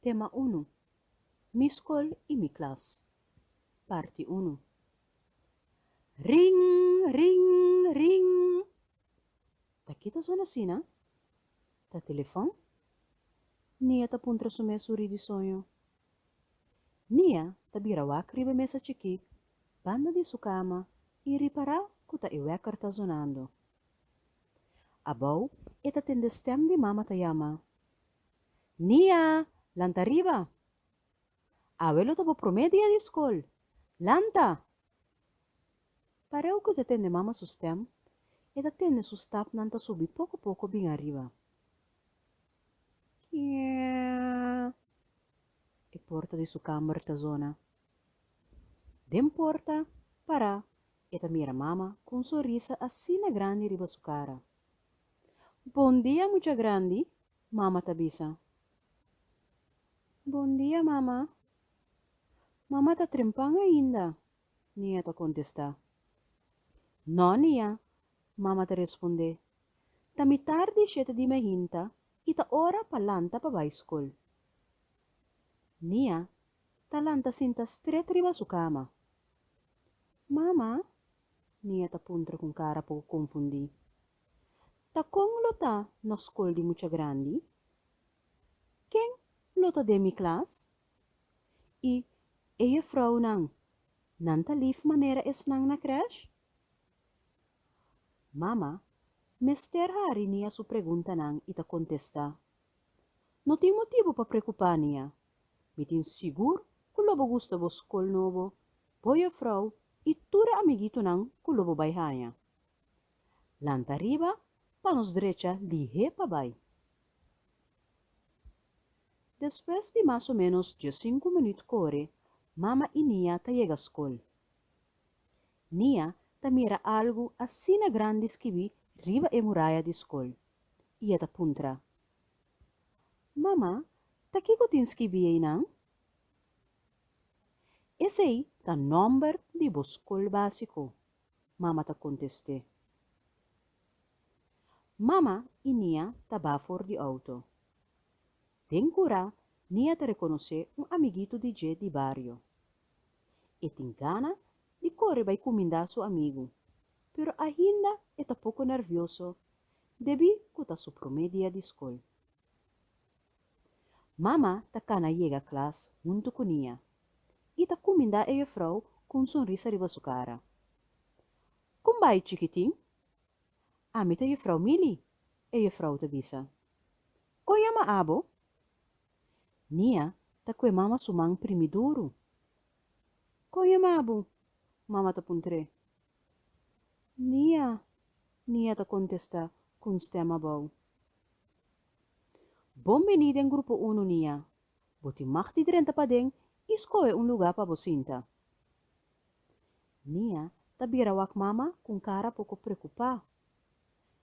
Tema unu, Mi skol i mi klas, parti unu. Ring, ring, ring! Ta ki ta sona asina? Ta telefòn? Nia ta puntra su mes suri di soño. Nia ta bira wak riba e mesa chikí banda di su kama i ripará ku ta e wèker ta zonando. Abou e ta tende stèm di mama ta yama, Nia, lanta riba! Awe lo ta bo promé dia di skol. Lanta! Pareu ku e ta tende mama su stèm, e ta tende su stapnan ta subi poko poko bin ariba. Kièèè Bondia mucha grandi, mama ta bisa. Bondia, mama. Mama ta trempan ainda, Nia ta kontestá. No, Nia, mama ta respondé. Ta mitar di shete di mehinta i ta ora pa lanta pa bai skol. Nia ta lanta sinta stret riba su kama. Mama? Nia ta puntra ku un kara poku konfundí. Ta kon lo ta na skol di mucha grandi? Ken lo ta den mi klas? I e jefrounan, nan ta lif manera esnan na krèsh? Mama mester hari Nia su preguntanan i ta kontestá, No tin motibu pa preokupá, Nia. Mi tin sigur ku lo bo gusta bo skol nobo, bo jefrou i tur e amiguitonan ku lo bo bai haña. Lanta riba pa nos drecha lihé pa bai. Despues di mas o ménos diesinku minüt kore, Mama i Nia ta yega skol. Nia ta mira algu asina grandi skibí riba e muraya di skol i e ta puntra, Mama, ta kiko tin skibí einan? Esei ta nòmber di bo skol básiko. Mama ta kontest'é. Mama i Nia ta ba for di outo. Den kura Nia ta rekonosé un amiguito di dje di bario. E tin gana di kore bai kumindá su amigu, pero ainda e ta poko nervioso debí ku ta su promé dia di skol. Mama ta cana yega klas huntu cu Nia y ta cuminda e jufrouw cu un sonrisa riba su cara. Con bay chikitin? Ami ta jufrouw Mili, e jufrouw ta bisa. Con yama abo? Nia ta cue mama su man primi duru. Con yama abo? mama ta puntre. Nia, Nia ta contesta cu un stem abao. Bon beni den Grupo Uno Nia. Bo tin mag di drenta paden i skohe un luga pa bo sinta. Nia ta bira wak mama ku un kara poko preokupá.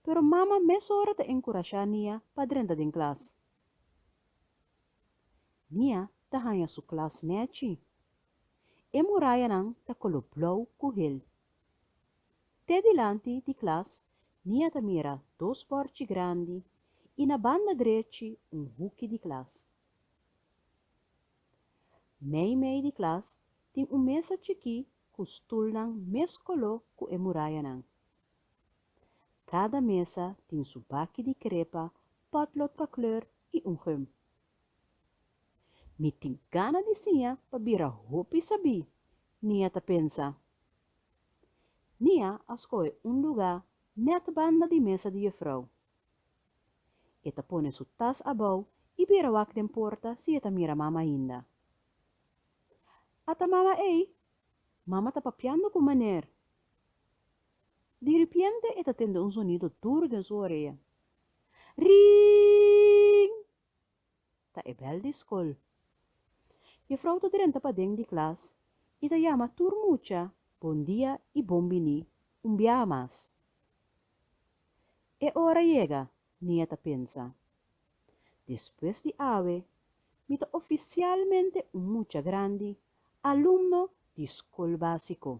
Pero mama mesora ta enkurashá Nia pa drenta den klas. Nia ta haña su klas nèchi. E murayanan ta koló blou ku hel. Te dilanti di klas Nia ta mira dos bòrchi grandi i na banda drechi un huki di klas. Mei mei di klas tin un mesa chikí ku stulnan mes koló ku e murayanan. Kada mesa tin su baki di krepa, pòtlot pa kleur i un gum. Mi tin gana di siña pa bira hopi sabí, Nia ta pensa. Nia a skohe un lugá nèt banda di mesa di Jefrou. E ta pone su tas abou i bira wak den porta si e ta mira Mama ainda. A ta Mama ei! Mama ta papiando ku Meneer! Diripiente e ta tende un sonido duru den su orea, Ring! Ta e bèl di skol. Jefrou ta drenta paden di klas i ta yama tur mucha bondia i bon biní un biaha mas. E ora yega, Nia ta pensa. Despues di awe, mi ta ofisialmente un mucha grandi, alumno di skol básiko.